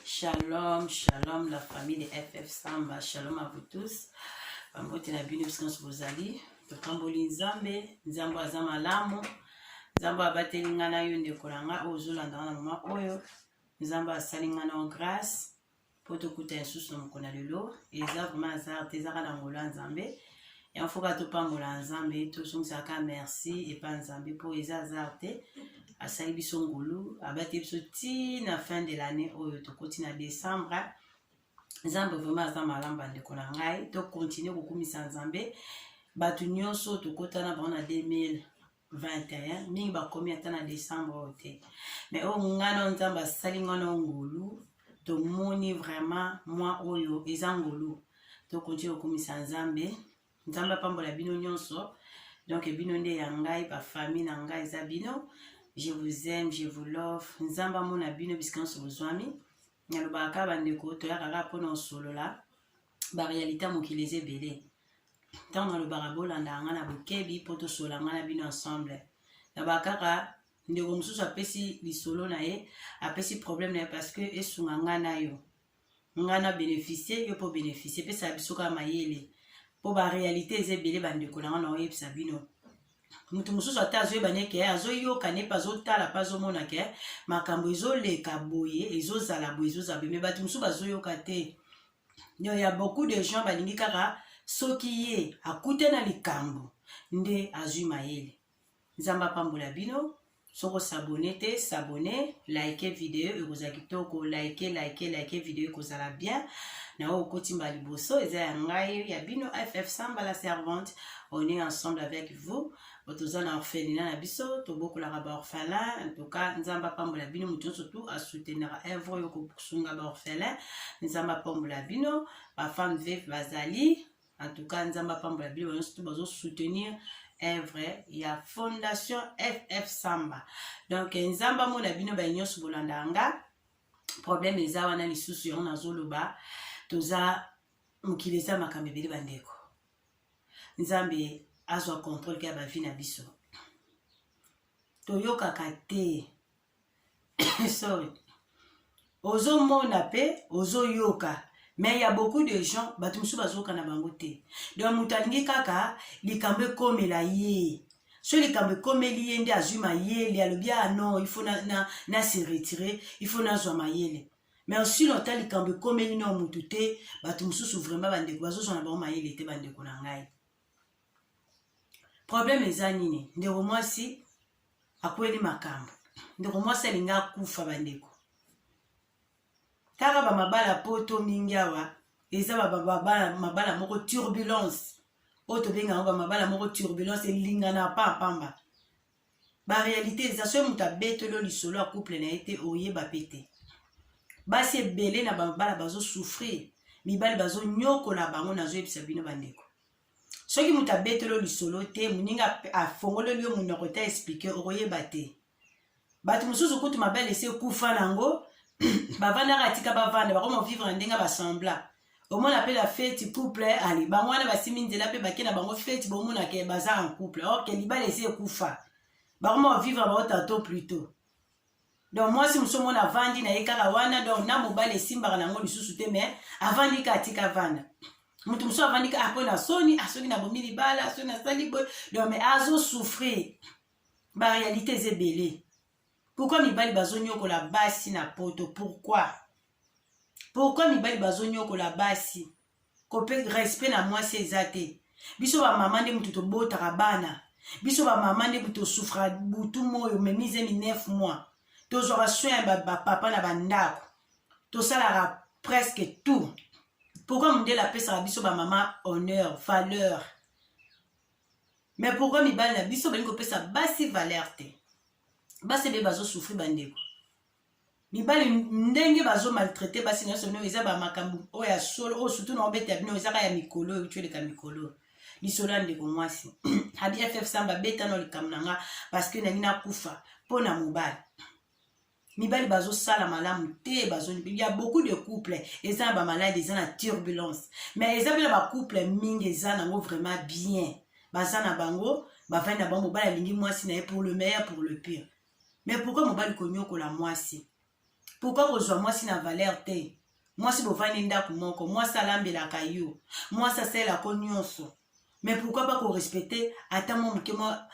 Shalom, shalom la famille de FF Samba, shalom à vous tous. Bambote na bino bisika nyonso bozali, topamboli Nzambe, Nzambe aza malamu, Nzambe abateli ngai na yo ndeko na ngai oyo ozolanda wana mama oyo, Nzambe asali ngai na grâce. mpo tokuta ya susu na mokolo ya lelo eza vraiment azar te ezaka na ngolo ya nzambe yango fo ka topambola ya nzambe tozongisaka merci epa nzambe mpo eza azar te asali biso ngolu abati biso ti na fin de l'année oyo tokoti na décembre nzambe vraiment aza malamu bandeko na ngai tokontinue kokumisa nzambe bato nyonso tokotana bango na 2000 21 mingi bakomi ata na décembre oyo te mais oyo ngana oyo nzambe asali ngana oyo ngolu tomoni vraiment mwa oyo eza ngolu tokonti kokumisa nzambe nzambe apambola bino nyonso donc bino nde ya ngai bafamille na ngai eza bino je vous aime je vous love nzambe amona bino bisika nyonso bozwami nalobaka kaka bandeko toyaka kaka mpona osolola ba realite ya mokili eza ebele ntango nalobaka bolandaka ngai na bokebi mpo tosola ngai na bino ensemble naba kaka ndeko mosusu apesi lisolo na ye apesi problème na ye parce que esunga ngai na yo ngai na bénéficie yo mpo bénéficie epesaka biso kaka mayele mpo baréalité eza ebele bandeko na ngai na oyebisa bino moto mosusu ata azoyeba ne ke azoyoka ne mpe azotala mpe azomona ke makambo ezoleka boye ezozala boye ezozala boye me bato mosusu bazoyoka te donc ya beaucoup de gens balingi kaka soki ye akute na likambo nde azwi mayele nzambe apambola bino soki osabone te sabone like video ekozala kitoko like like like video ekozala bien na oyo okotimba liboso eza ya ngai ya bino ff samba la servante on est ensemble avec vous toza na orphelina na biso tobokolaka baorphelin entuka nzambe apambola bino moto nyonso tu asoutenaka evre oyo kosunga baorphelin nzambe apambola bino bafemme veve bazali entuka nzambe apambola bino nyonso tu bazosoutenir evre ya fondation ff samba donc nzambe amona bino baye nyonso bolandaka nga problème eza wana lisusu yango nazoloba toza mokili eza makambo ebele bandeko nzambe azwa contrôle ya bavi na biso toyokaka te sorry ozomona mpe ozoyoka mais ya beaucoup de gens bato mosusu bazoyoka na bango te donc moto alingi kaka likambo ekomela ye so likambo ekomeli ye nde azwi mayele alobi ah non il faut na, na, na se retire il faut nazwa mayele mais osila ota likambo ekomeli nao motu te bato mosusu vraimen bandeko bazozwa na bango mayele te bandeko na ngai probleme eza nini ndeko mwasi akweli makambo ndeko mwasi alingi akufa bandeko tala bamabala poto mingi awa eza mabala moko turbulence oyo tobenga yango bamabala moko turbulence elingana pa pamba ba realite eza soki moto abetoli yo lisolo ya couple na ye te oyeba mpe te basi ebele na babala bazosouffrir mibali bazonyokola bango nazoyebisa bino bandeko soki moto abetoli yo lisolo te moninga afongoleli yo monoko te explike okoyeba te bato mosusu kutu mabele esi ekufa na yango bavandaka atika bavanda bakoma vivre na ndenge basembla omona mpe na feti couple ali bango wana basimbi nzela mpe bake na bango feti bomonaka baza en couple orke libala esi ekufa bakoma kovivre bango tanto plutot donc mwasi mosusu omona avandi na ye kaka wana donc na mobali esimbaka na yango lisusu te mais avandi ka atika vanda moto mosusu avandi ka akoyi ah, na soni asoki ah, na bomi libala soki nasali boye donc mais azosouffrir barealité eza ebele Pourquoi mibali bazonyokola basi na poto? Pourquoi? Pourquoi mibali bazonyokola basi? Kope respect na mwasi eza te. Biso ba mama nde mutu tobotaka bana. Biso ba mama nde mutu tosufra butu moyo memize mi 9 mois. Tozwaka soin ya ba, ba papa na ba ndako. Tosalaka presque tout. Pourquoi mundele apesaka biso ba mama honneur, valeur? mais pourquoi mibali na biso balingi kopesa basi valeur te basi ebe bazosouffri bandeko mibali ndenge bazomaltraite basi nyonso bino eza bamakambo oyo ya solo oyo surtout na obeta bino ezaka ya mikolo oyo tyoleka mikolo lisolo ya ndeko mwasi abi ff samba betano likambo na nga parceke nangi nakufa mpo na mobali mibali bazosala malamu te ya beaucoup de couple eza na bamaladi eza na turbulence mais eza mpe na bacouple mingi eza nango vraiment bien baza na bango bavandi na bango mobali alingi mwasi na ye pour le meilleur pour le pire mais pourkui mobali konyokola mwasi pourkui kozwa mwasi na valeur te mwasi bovandi ndako moko mwasi alambelaka yo mwasi asalelako nyonso mais pourquoi pas korespecte ata mwa moke mwa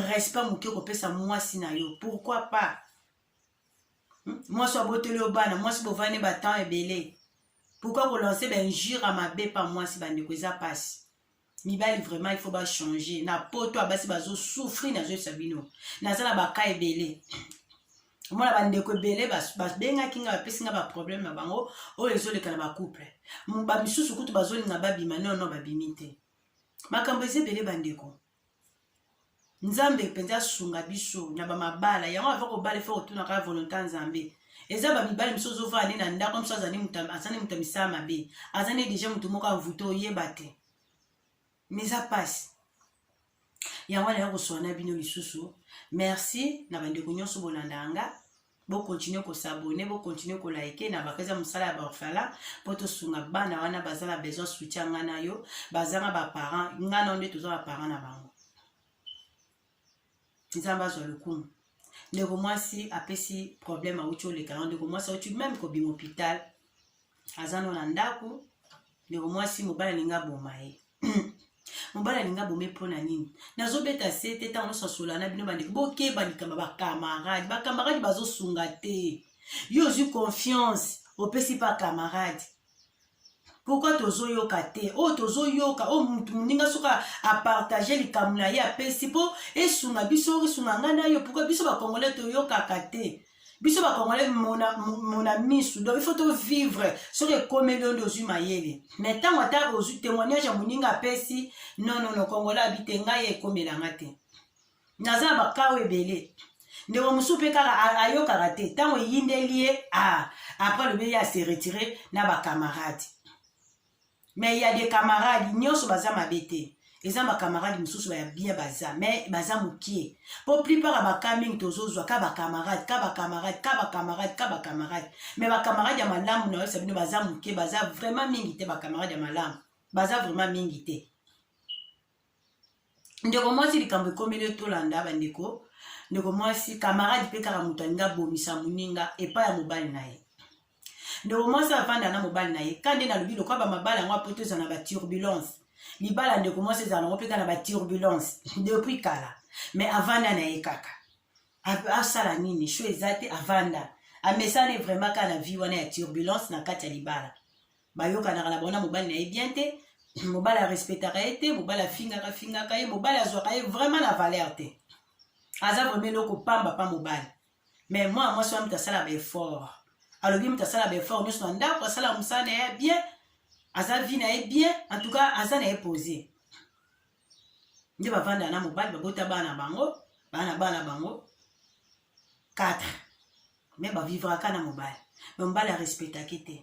respect moke kopesa mwasi na yo pourquoi pas hmm? mwasi abotoli yo bana mwasi bovandi batemps ebele pourquoi kolanse bainjure ya mabe pa mwasi bandeko eza mpasi mibali vraiment il faut bachange na poto abasi bazosouffrir nazoyebisa bino naza na baka ebele omona bandeko ebele babengaki ngai bapesi ngai baproblème na bango oyo ezoleka na bacouple bamisusu kutu bazolinga babima nono babimi te makambo eza ebele bandeko nzambe mpenza asunga biso na bamabala yango ava kobala efo kotunaka volonté ya nzambe eza bamibali mosusu ozovaa nde na ndako mosusu azali moto ya misala mabe aza nde deja moto moko anvute oyeba te mais eza mpasi yango wana ya koswana na bino lisusu merci na bandeko nyonso bolanda yanga bokontinue kosabone bokontinue kolaike na bakaza mosala ya baorphelin mpo tosunga bana wana baza na besoin soutien ngai na yo bazanga baparent ngai na yo nde toza baparent na bango nzambe azwa lokumu ndeko mwasi apesi problème awuti oleka yango ndeko mwasi awuti meme kobima hôpital aza no na ndako ndeko mwasi mobali alingi aboma ye mobali alingi abome mpo na nini nazobeta se te ntango nyonso asola na bino bandeko bokeba likambo bakamarade bakamarade bazosunga te yo ozwi confiance opesi pa kamarade pourkui tozoyoka te oyo oh, tozoyoka oyo oh, motu moninga soki apartage likambo na ye apesi mpo esunga biso esunga ngai na yo pourkui biso bakongole toyokaka te biso bakongole mona misu donc ifo tovivre soki ekomeli yo nde ozwi mayele mai ntango ata ozwi témoignage ya moninga apesi nonono kongole abi te ngai ekomela nga te naza na bakao ebele ndeko mosusu mpe kaka ayokaka te ntango eyindeli ye ah, apres alobi ye ase retire na bacamarade mais ya de camarade nyonso baza mabe te eza bacamarade mosusu baya bien baza mais baza mokie mpo plupart ya baka mingi tozozwa ka bacamarade ka bacamarade ka bacamarade ka bacamarade mais bacamarade ya malamu na oyebisa bino baza moke baza vraiment mingi te bacamarade ya malamu baza vraiment mingi te ndeko mwasi likambo ekomeli tolanda bandeko ndeko mwasi kamarade mpe kaka moto alingi abomisa moninga epai ya mobali na ye ndeko mwasi avanda na mobali na ye ka nde nalobi lokola bamabala yango apo toza na baturbulence libala ndeko mwasi ezala nango mpe kaka na baturbulence depuis kala mais avanda na ye kaka asala nini sho eza te avanda amesani vraiment kaka na vie wana ya turbulence na kati ya libala bayokanaka na bango na mobali na ye bien te mobali arespectaka ye te mobali afingaka fingaka ye mobali azwaka ye vraiment na valeur te aza vraimen eloko pamba pa mobali mais mwana mwasi wana moto asala baeffort alobi moto asala baeffort nyonso na ndako asala mosala na ye bien aza vie na ye bien en tout cas aza na ye pose nde bavandaka na mobali babota bana bango bana bana bango 4 me bavivraka na mobali me mobali arespectaki te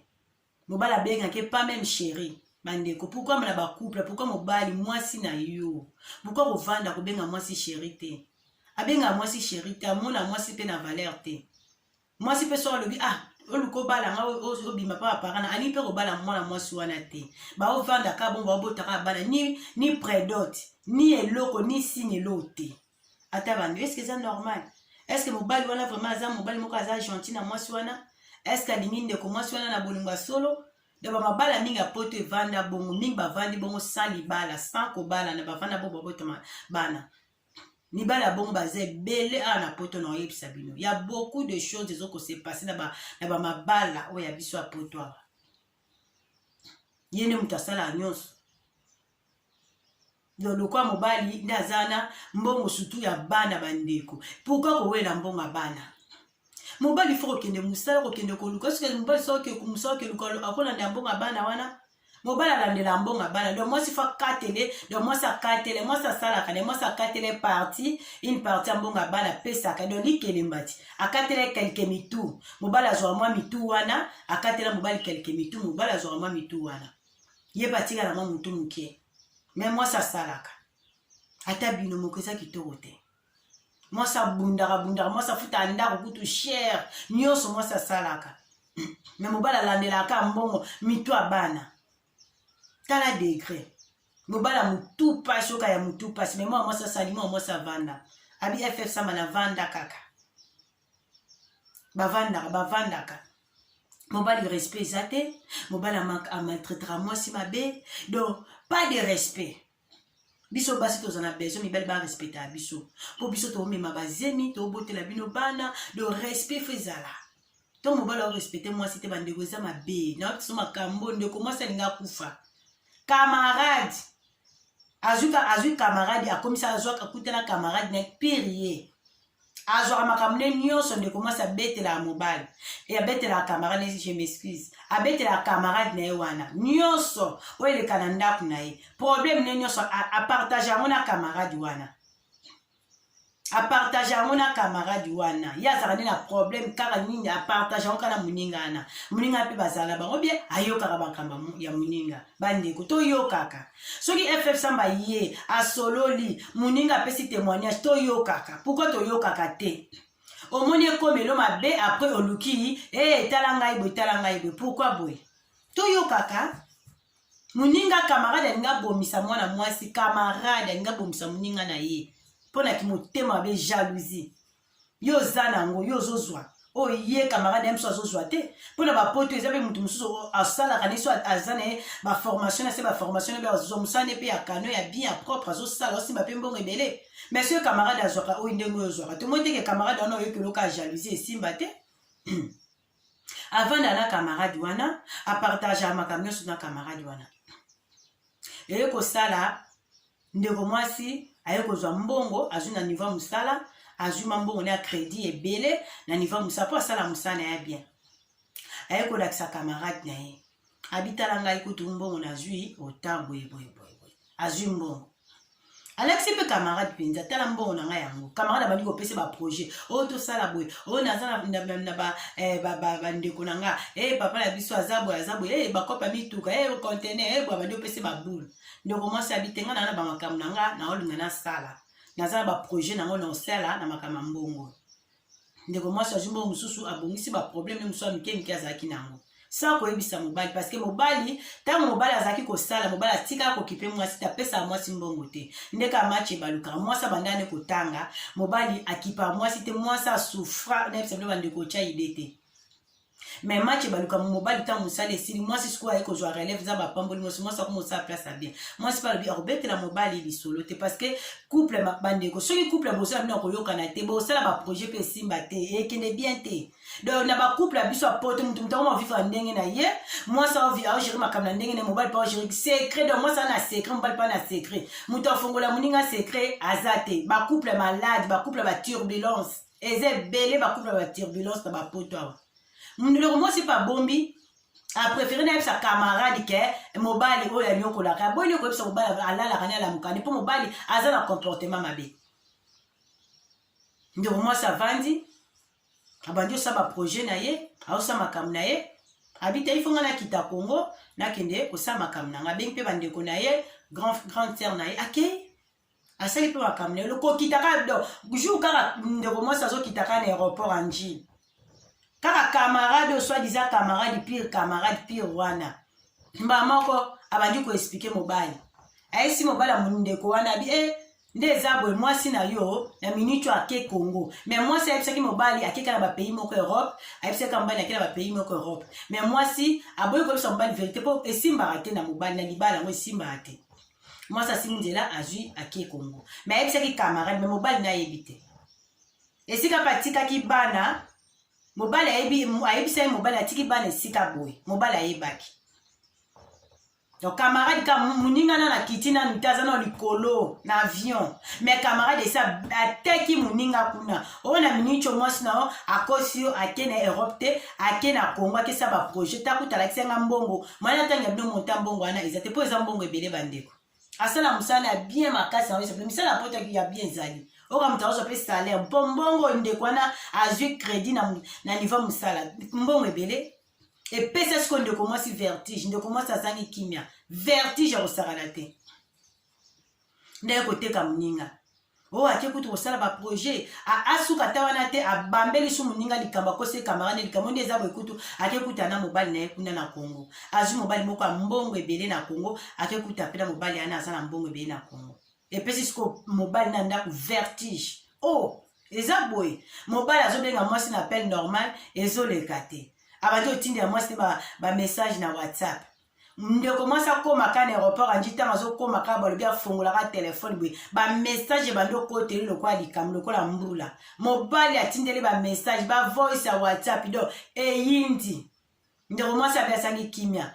mobali abengaka ye pas meme chérie bandeko pourkui na bacouple pourkui mobali mwasi na yo pourkui kovanda kobenga mwasi chéri te abengaka mwasi chéri te amona mwasi mpe na valeur te mwasi mpe soki alobi ah oluka obala nga obima mpa bapara na alingi mpe kobala mwana mwasi wana te baovanda kaka bongo baobotaka bana ni, ni predot ni eloko ni sini eloo te ata bando eske eza normal eske mobali wana vraiment aza mobali moko aza gentil na mwasi wana eske alingi ndeko mwasi wana na bolingo ya solo na bamabala mingi ya poto evanda bongo mingi bavandi bongo sans libala sans kobalana bavanda bongo babotama bana mibali ya bongo baza ebele awa na poto na oyebisa bino ya beaucoup de choses ezokose passe na bamabala oyo ya biso ya poto awa ye nde moto asalaka nyonso no lokwa mobali nde aza wana mbongo sutu ya bana bandeko pourkui kowela mbongo ya bana mobali fo kokende mosala kokende koluka soki mobali soki mosala okeluka akolanda ya mbongo ya bana wana mobali alandela mbongo ya bana donc mwasi fo akatele donc mwasi akatele mwasi asalaka ne mwasi akatele parti une parti ya mbongo ya bana apesaka donc likelembati akatele kelke mitu mobali azwaka mwa mitu wana akatela mobali kelke mitu mobali azwaka mwa mitu wana ye mpe atikala mwa motu moke me mwasi asalaka ata bino moko eza kitoko te mwasi abundaka bundaka mwasi afutaka ndako kutu shere nyonso mwasi asalaka me mobali alandelaka mbongo mitu ya bana tala degre mobala motu mpasi oka ya motu mpasi me mwa mwasi asali mwa mwasi avanda abi ff sama na vanda kaka bavandaka bavandaka mobali respect eza te mobali amaltraitaka mwasi mabe donc pas de respect biso basi toza na besoin mibali barespectaka biso mpo biso toomema bazemi tobotela bino bana do respect fo ezala to mobali aorespecte mwasi te bandeko eza mabe nayoki biso makambo ndeko mwasi alingi akufa camarade azwi camarade akomisa azwaka kutana camarade na pire ye azwaka makambo ne nyonso ndeko mwasi abetelaka mobali e abetelaka camarade ne je m'excuse abetelaka camarade na ye wana nyonso oyo eleka na ndako na ye problème ne nyonso apartage yango na camarade wana apartage yango na camarade wana ye azalaka nde na problème kaka nini apartage yango kaka na moninga wana moninga mpe bazala bango bie ayokaka makambo ya moninga bandeko toyokaka soki ff samba ye asololi moninga apesi témoignage toyokaka pourkui toyokaka te omoni ekomelo mabe apres oluki e eh, tala ngai boye tala ngai boye pourkui boye toyokaka moninga kamarade alingi abomisa mwana mwasi kamarade alingi abomisa moninga na ye mpo na kimotema mabe jalousie yo oza na yango yo ozozwa oyo oh, ye camarade ya biso azozwa te mpo na bapoto eza mpe moto mosusu asalaka na biso aza na ye baformation na se baformation na mpe azozwa mosala ne mpe ya kano ya bien ya propre azosala osimba mpe mbongo ebele mais soki camarade azwaka oyo ndenge oyo ozwaka tomoni ndenge camarade wana oyoki oloka jalousie esimba te avanda na camarade wana apartagea makambo nyonso na camarade wana eye kosala ndeko mwasi aye kozwa mbongo azwi na niveau ya mosala azwi ma mbongo na ya crédit ebele na niveau ya mosala mpo asala mosala na ye bien aye kolakisa camarade na ye abi tala ngai kutu mbongo nazwi ota boye boye boye boye azwi mbongo alakisi mpe camarade mpenza tala mbongo na ngai yango camarade abandi kopesa baprojet oyo oh, tosala boye oyo oh, naza na bandeko eh, na nga e eh, papa na biso aza boye aza boye e eh, bakopa mituka e contener e abandi opesa baboule ndeko mwasi abitenga na na bamakambo na nga naolinga nasala naza na baprojet na yango naosala na makambo ya mbongo ndeko mwasi azwi mbongo mosusu abongisi baprobleme mosusu ya mike mike azalaki na yango sa koyebisa mobali parceke mobali ntango mobali azalaki kosala mobali atikaka kokipe mwasi te apesaka mwasi mbongo te ndeke amace ebalukaka mwasi abandaka nde kotanga mobali akipaka mwasi te mwasi asufra nayebisa bino bandeko otya ide te mais match ebaluka mobali ntango mosali esili mwasi sikoyo aye kozwa relève nzambe apamboli mwasi mwasi akoma osala place abien mwasi mpe alobi akobetela mobali lisolo te parce que couple bandeko soki couple boso ya bino akoyokana te bosala baprojet mpe esimba te ekende bien te donc na bacouple ya biso ya poto moto moto akoma vivre ndenge na ye mwasi aogere makambo na ndenge na ye mobali mpe aogere secret donc mwasi ana secret mobali mpe ana secret moto afongola moninga secret aza te bacouple malade bacouple ya baturbulence eza ebele bakubi na baturbulence na bapoto awa ndeko mwasi mpe abombi aprefere nayebisa camarade ke mobali oyo anyokolaka aboyi koyebisa mobali alalaka ne alamukani mpo mobali aza na comportement mabe ndeko mwasi avandi abandi osala baprojet na ye aosala makambo na ye abita ifo ngai nakita kongo nakende kosala makambo na ngai abengi mpe bandeko na ye grand, grand sere na ye akei asali mpe makambo na ye kokita kaka do jour kaka ndeko mwasi azokita kaka na aéroport anji kaka camarade oyo soit disant camarade pire camarade pire wana mbala moko abandi koexplike mobali ayesi mobali ya mondeko wana abi e eh, nde eza boye mwasi na yo na minute oyo ake congo me mwasi ayebisaki mobali akeka na bapays moko europe ayebisaki mobali ake na bapays moko europe me mwasi aboyi koyebisa mobali verité mpo esimbaka te na mobali na libala yango esimbaka te mwasi asimbi nzela azwi ake kongo me ayebisaki camarade me mobali na ayebi te esika mpe atikaki bana mobali ayebisaki mobali atiki bana esika boye mobali ayebaki donc camarade ka moninga na nakiti na mita aza na likolo na avion mais camarade esi ateki moninga kuna oyo na minico mwasi na yo akosi yo ake na europe te ake na congo akesa baprojet ta kuta alakisa nga mbongo mai natangi ya bino monta mbongo wana eza te mpo eza mbongo ebele bandeko asala mosala ya bien makasi na oyo misala ya poto ya bien ezali oka moto akozwa mpe salaire mpo mbongo oyo ndeko wana azwi crédit na, na niveau mosala mbongo ebele epesa sikoyo ndeko mwasi vertige ndeko mwasi azangi kimia vertige ya kosakana te ndenge koteka moninga oyo oh, ake kutu kosala baprojet asuka ata wana te abambeli su moninga likambo akosi camarade likambo nde eza boye kutu ake kuta na mobali na ye kuna na congo azwi mobali moko ya mbongo ebele na congo ake kuta mpe na mobali yana aza na mbongo ebele na congo epesi siko mobali na ndako vertige o oh, eza boye mobali azobenga mwasi na appel normal ezoleka te abandi otindela mwasi te bamessage ba na whatsapp ndeko mwasi akóma ka na aéroport andi ntango azokóma kaka balobi afongolaka telefone boye bamessage ebandi okoteli lokola likambo lokola mbula mobali atindeli bamessage bavoice ya whatsapp do eyindi ndeko mwasi abi asali kimia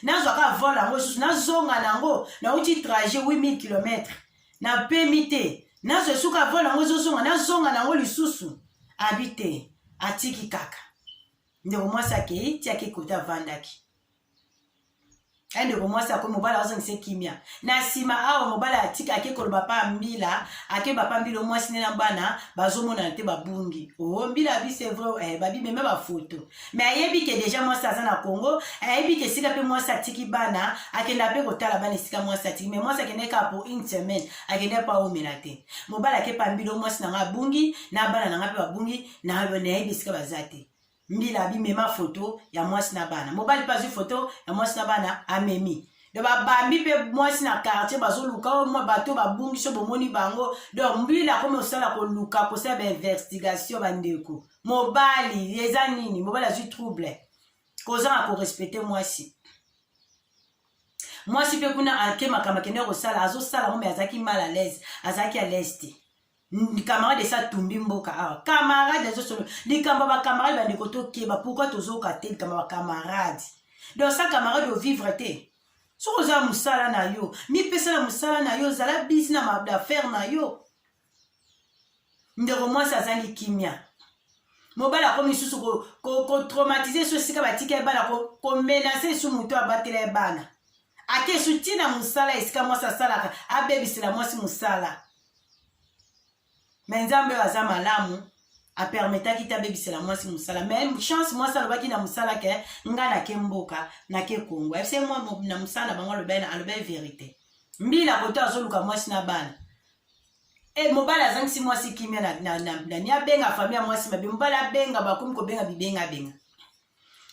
nazwa kaka vol yango lisusu nazonga na yango nauti trajet 8000 kilomètre napemi te nazwa esuka vol yango ezozonga nazonga na yango lisusu abi te atiki kaka ndeko mwasi akei ti akei kote avandaki aye ndeko mwasi akomi mobali azongisa ekimia na nsima awa mobali atiki ake koloba pa mbila ake bapa mbila omwasi nde na bana bazomonana te babungi o oh, mbila abi c'est vrai eh, babimeme bafoto mais ayebi ke deja mwasi aza na congo ayebi ke esika mpe mwasi atiki bana akenda mpe kotala bana esika mwasi atiki mais mwasi akendaki kaka po une semaine akendaki mpo aomela te mobali ake pa mbila omwasi na ngai abungi na bana na ngai mpe babungi nayebi esika baza te mbila abimema foto ya mwasi na bana mobali mpe azwi foto ya mwasi na bana amemi do babambi mpe mwasi na quartier bazoluka oh, mwa bato babungisi bomoni bango donc mbila akomi osala koluka kosala bainvestigation bandeko mobali eza nini mobali azwi trouble kozanga korespecte mwasi mwasi mpe kuna ake makambo akendeki kosala azosala ngo me azalaki mal à l'aise azalaki à l'aise te camarade esi atumbi mboka awa ah, camarade azosolo likambo ya bacamarade bandeko tokeba pourkui tozoka te likambo ya bacamarade donc sa camarade ovivre te soki oza mosala na yo mipesa na mosala na yo zala bisi na mabaffaire na yo ndeko mwasi azangi kimia mobali akomi lisusu kotraumatise ko, ko so esika batika ye bana komenase ko esu moto abatela ye bana ake esu ntina mosala esika mwasi asalaka abebisela mwasi mosala me nzambe oyo aza malamu apermetaki te abebisela mwasi mosala me chance mwasi alobaki na mosala ke nga nake mboka nake kongo efse mwa na mosala na bango alobai alobai verité mbila koto azoluka mwasi na bana e mobali azangisi mwasi kimia na, na, na, na, na abenga fami ya mwasi mabe mobali abenga bakomi kobenga bibengabenga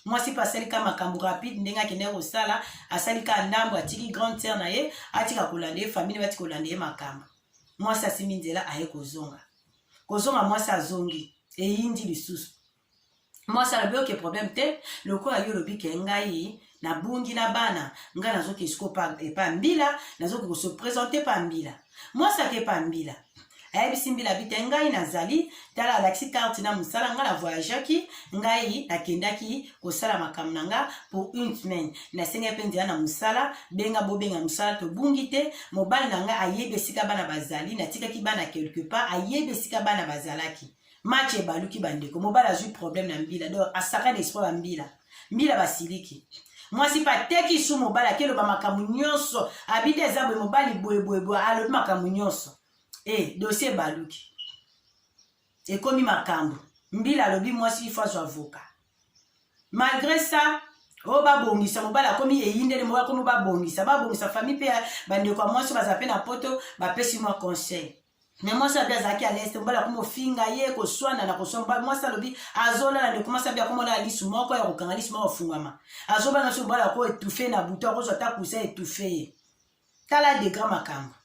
mwasi mpe asali ka makambo rapide ndenge akendaki kosala asali ka ndambo atiki grande sœur na ye atika kolanda ye famille bati kolanda ye makambo mwasi asimbi nzela aye kozonga kozonga mwasi azongi eyindi lisusu mwasi alobi oke problème te lokola yo olobi ke ngai nabungi na bana nga nazoki esiko epa mbila nazoki kose presente pa mbila mwasi ake pa mbila ayebisi mbila bite ngai nazali tala alakisi karte na mosala ngai na voyageaki ngai nakendaki kosala makambo na nga pour une semaine nasengai mpe nzela na mosala benga bobenga mosala tobungi te mobali na ngai ayebi esika bana bazali natikaki bana quelque part ayebi esika bana bazalaki match ebaluki bandeko mobali azwi problème na mbila donc asaka na esprit ya mbila mbila basiliki mwasi mpe ateki su mobali akeloba makambo nyonso abidi eza boye mobali boyeboyeboye alobi makambo nyonso e eh, dosie ebaluki ekomi makambo mbila alobi mwasi ifo azwa avoka malgré ça oyo oh, babongisa mobali akomi eyindeli mobali akomi babongisa babongisa famille mpe bandeko ya mwasi baza mpe na poto bapesi mwa conseil me mwasi abi azalaki aleste mobali akoma ofinga ye koswana na koswana mwasi alobi azolala ndeko mwasi abi akoma olala lisu moko ya kokanga lisu moko ofungwama azobana so mobali ako etufe na butu akozwa ata kusa etufe ye tala degra makambo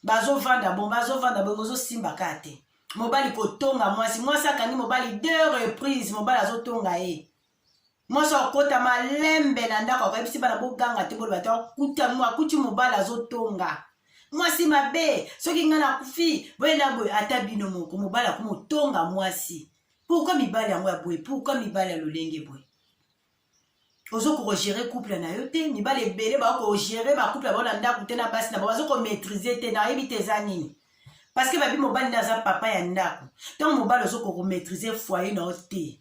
bazovanda bongo bazovanda bongo ozosimba ka te mobali kotonga mwasi mwasi akangi mobali deux reprise mobali azotonga ye mwasi akota malembe na ndako akayebisi bana boganga te boloba te akuti mobali azotonga mwasi mabe soki ngai nakufi boye na boye ata bino moko mobali akoma otonga mwasi pourkui mibali yango ya boye pourkui mibali ya lolenge boye ozo kogere couple na yo te mibali ebele bakogere bacouple bao na ndako te na basi na bao bazo komaitrise te nayebi te eza nini parce que babi mobali nde aza papa ya ndako ntango mobali ozo kokomaitrise foyer na yo te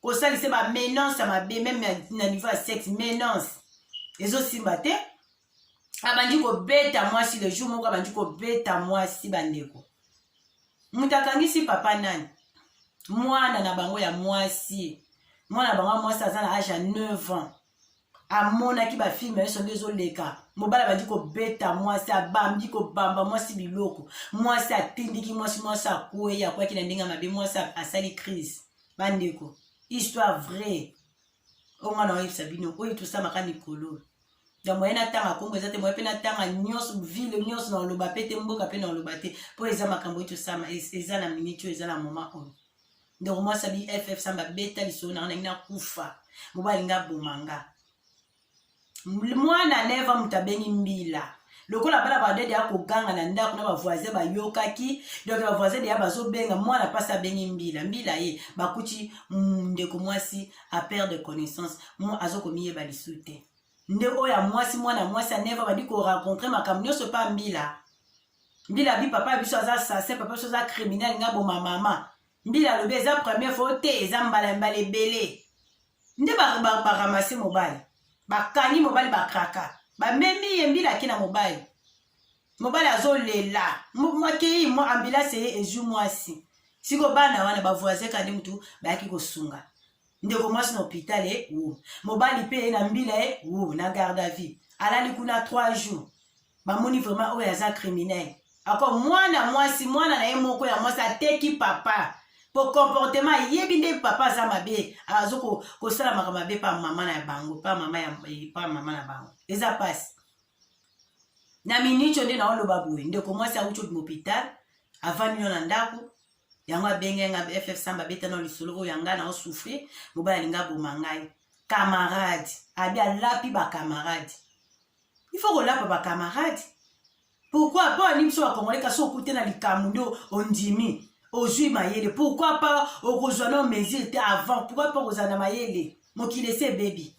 kosalisa ba menance ya mabe meme na niveau ya sexe menance ezosimba te abandi kobeta mwasi le jour moko abandi kobeta mwasi bandeko moto akangisi papa nani mwana na bango ya mwasi mwana na bango ya mwasi aza na age ya 9 ans amonaki bafilme nyonso nde ezoleka mobali abandi kobeta mwasi abambi kobamba mwasi biloko mwasi atindiki mwasi mwasi akwei akwaki na ndenge ya mabe mwasi asali crise bandeko histoire vraie oyo ngai naoyebisa bino oyo tosamaka mikolo ya moye natanga nkombo eza te moye mpe natanga nyonso ville nyonso na oloba mpe te mboka mpe na oloba te mpo eza makambo oyo tosama eza na miniti oyo eza na moma oyo ndeko mwasi abi ff samba beta lisolo nanga nangi nakufa mobali nga boma nga mwana neva moto abengi mbila lokola bana badede ya koganga na ndako na bavoisin bayokaki donk bavoisin deya bazobenga mwana mpasi abengi mbila mbila ye bakuti mm, ndeko mwasi apere de connaissance azokomiyeba lisu te nde oyo ya mwasi mwana mwasi aneva badi korencontre makambo nyonso mpa mbila mbila bi papa biso aza assassin papa biso aza criminel nga boma mama mbila alobi eza première fois te eza mbala ya mbala ebele nde baramase mobali bakangi mobali bakraka bamemi ye mbila ake na mobali mobali azolela mwakei mwa ambulance eye ezwi mwasi siko bana wana bavoisin kandi motu bayaki kosunga ndeko mwasi na hôpital e wo mobali mpe ye na mbila e wo na garde à vie alali kuna 3 jours bamoni vraiment oyo aza criminel ako mwana mwasi mwana na ye moko ya mwasi ateki papa po comportement ayebi nde papa aza mabe azo kosala makambo mabe pa mama na bango pa mama ya eh, pa mama na bango eza pasi na minitio nde naoloba boye ndeko mwasi auti obima hopital avandi no na ndako yango abenge nga ff samba abeta na lisolo oyo ya ngai na osouffrir mobali alinga aboma ngai camarade abi alapi bacamarade il faut kolapa ba camarade pourquoi mpo alingi biso bakongole kasi okute na likambo nde ondimi ozwi mayele pourquoi mpa okozwa nao mesure te avant pourquoi mpa okozala na mayele mokili esi ebebi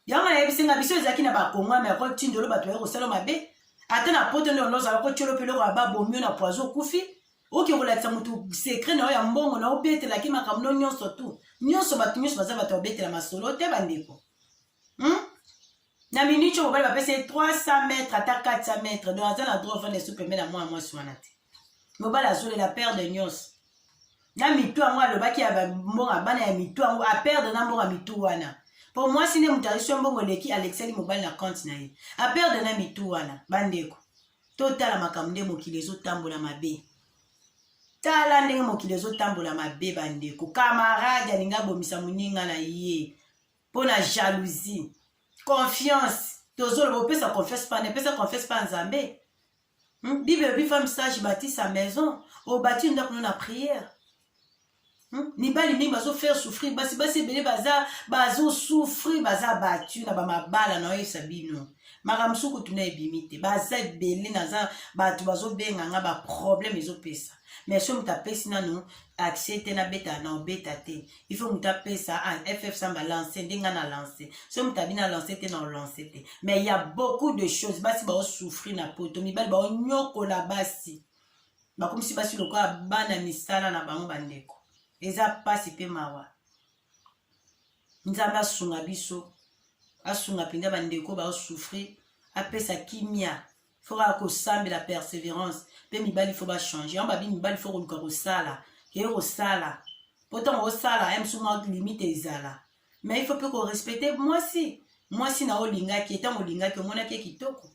yango nayebisi nga biso ezalaki na bakongwa me akotindo olo bato baye kosala mabe ata na poto nde olozala kotyolo mpe eloko ya babomi yo na poizo okufi oke kolakisa motu sekre na yo ya mbongo na obetelaki makambo no nyonso tu nyonso bato nyonso baza bato babetela masolo te bandeko hmm? na minute oyo mobali bapesi ye 300 mètre ata 400 mètre donc aza na droit ofanda esu pembe na mwana mwasi wana te mobali azolela perde nyonso na mitu yango alobaki ya mbonga bana ya mitu yango aperde na mbonga mitu wana mpo mwasi nde moto azwi mbongo eleki alekisaki mobali na konte na ye aperde na mitu wana bandeko totala makambo nde mokili ezotambola mabe tala ndenge mokili ezotambola mabe bandeko kamarade alingi abomisa moninga na ye mpo na jalousie confiance tozoloba opesa confiance mpa nepesa confiance mpa nzambe hmm? bible elobi femme sage bati sa maison obati ndako no na prière hmm? mibali mingi bazofaire souffrir basi basi ebele baza bazosouffrir baza batu na bamabala na oyebisa bino makambo mosusu kutu na ebimi te baza ebele naza bato bazobenga nga baproblème ezopesa mais so moto apesi nano accès te nabeta na obeta te il faut moto apesa ah, ff samba lance nde ngai na lance so moto abi na lance te na olance te mais ya beaucoup de choses basi baosouffrir na poto mibali baonyokola basi bakomisi basi lokola bana misala na bango bandeko eza mpasi mpe mawa nzambe asunga biso asunga mpenza bandeko baosouffrir apesa kimia fo kaka kosambela perseverance mpe mibali fo bachange yango babi mibali fo koluka kosala keye kosala mpo ntango osala ya mosusu mwa limite ezala mais il faut mpe korespecte mwasi mwasi na olingaki ye ntango olingaki omonaki ye kitoko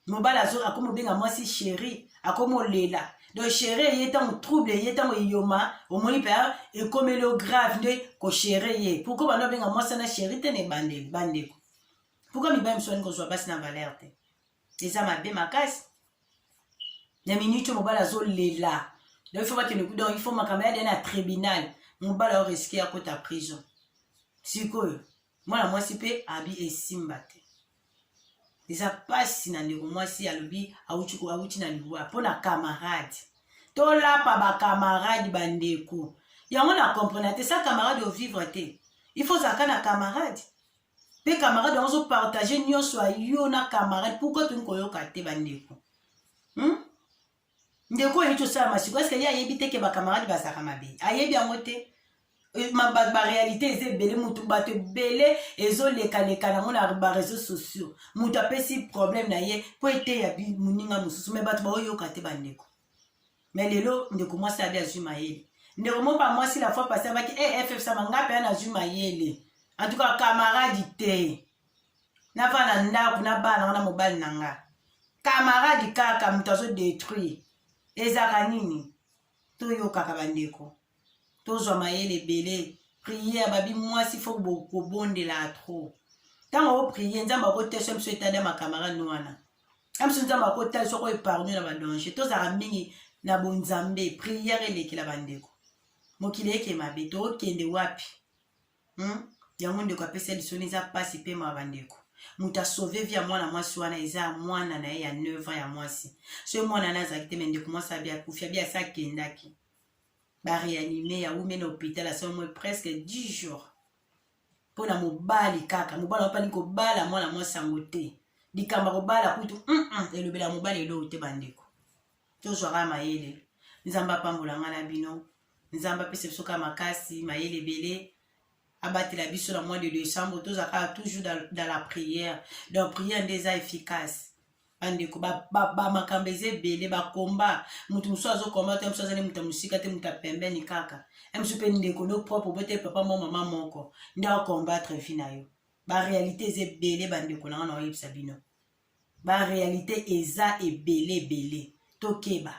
mobali akomi obenga mwasi sheri akomi olela donc shere ye ntango trouble ye ntango eyoma omoni mpe ah, ekomeli o grave nde koshere ye pourkoi bando abenga mwasi na sheri te na ebandeli bandeko pourkui mibali mosusu alingi kozwa basi na valeur te eza mabe makasi na minute oyo mobali azolela donc il faut bakende kuda il faut makambo ya dene ya tribunal mobali ao riske ya kota prison sikoyo mwana mwasi mpe abi esimba te eza mpasi na ndeko mwasi alobi awuti awuti na liwa mpo na camarade tolapa bacamarade bandeko yango na comprena te sa camarade ovivre te il faut ozalaka na camarade mpe camarade yango ozopartage nyonso ya yo na camarade pourkoi tolingi koyoka te bandeko hmm? ndeko oyo euti osala masiko eske ye ayebi te ke bacamarade bazalaka mabe ayebi yango te eh, barealité eza ebele motu bato ebele ezolekaleka nango na bareseau sociaux moto apesi problème na ye mpo eteya moninga mosusu me bato baoyoka te bandeko mais lelo ndeko mwasi abi azwi mayele ndeko moko ba mwasi la fois passé abaki e eh, ffsama nga mpe ana azwi mayele en tout cas camarade te navanda ndako na bana wana mobali na nga camarade kaka moto azodétruire ezaka nini toyokaka bandeko tozwa mayele ebele priere babi mwasi fo kobondela trop ntango oprie nzambe akotesa biso etali ya makamarade wana ya biso nzambe akotalisa oko epargne na badanger tozalaka mingi na bonzambe priere elekela bandeko mokili eke mabe tokende wapi hmm? yango ndeko apesa lisoni eza mpasi mpe ma bandeko moto asauve vi ya mwana mwasi wana eza mwana na ye ya 9 ans ya mwasi soki mwana na azalaki te me ndeko mwasi abi akufi abi asi akendaki ba réanime ya wumena hôpital à ce moment presque 10 jours mpo na mobali kaka mobali apani kobala mwana mwasi yango te likambo ya kobala kutu mm -mm, elobela ya mobali eloo te bandeko tozwaka mayele nzambe apambola ngai na bino nzambe apesa biso kaka makasi mayele ebele abatela biso na mois de décembre tozala kaka toujours dans, dans la prière donc prière nde eza efficace bandeko bamakambo eza ebele bakomba moto mosusu azokomba te mosusu azali moto ya mosika te moto ya pembeni kaka mosusu mpe ndeko no propre obote papa mo mama moko nde akombatre vi na yo barealité eza ebele bandeko na nga na oyebisa bino barealité eza ebele ebele tokeba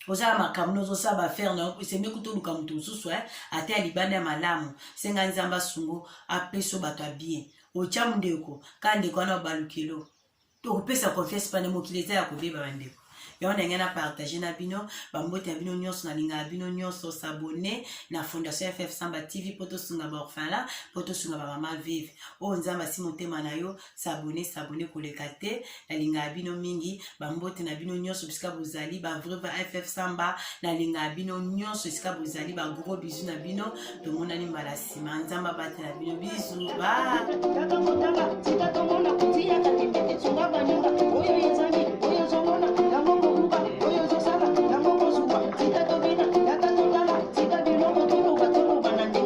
oza na makambo na ozosala baaffaire na yo esembe kuta oluka moto mosusu eh? ata ya libanda ya malamu senga nzambe asungo apeso bato ya bien otya mondeko kaka ndeko wana obalukelo tokopesa confiance pane mokili eza ya kobeba bandeko yango ndenge na partage na bino bambote ya bino nyonso nalingaka bino nyonso sabone na fondation ff samba tv mpo tosunga baorphelin mpo tosunga bamama vive oyo nzambe asi motema na yo sabone sabone koleka te nalingaka bino mingi bambote na bino nyonso bisika bozali bavrai ba ff samba nalingaka bino nyonso esika bozali bagro bizu na bino tomonani mbala nsima nzambe abatela bino bizu ba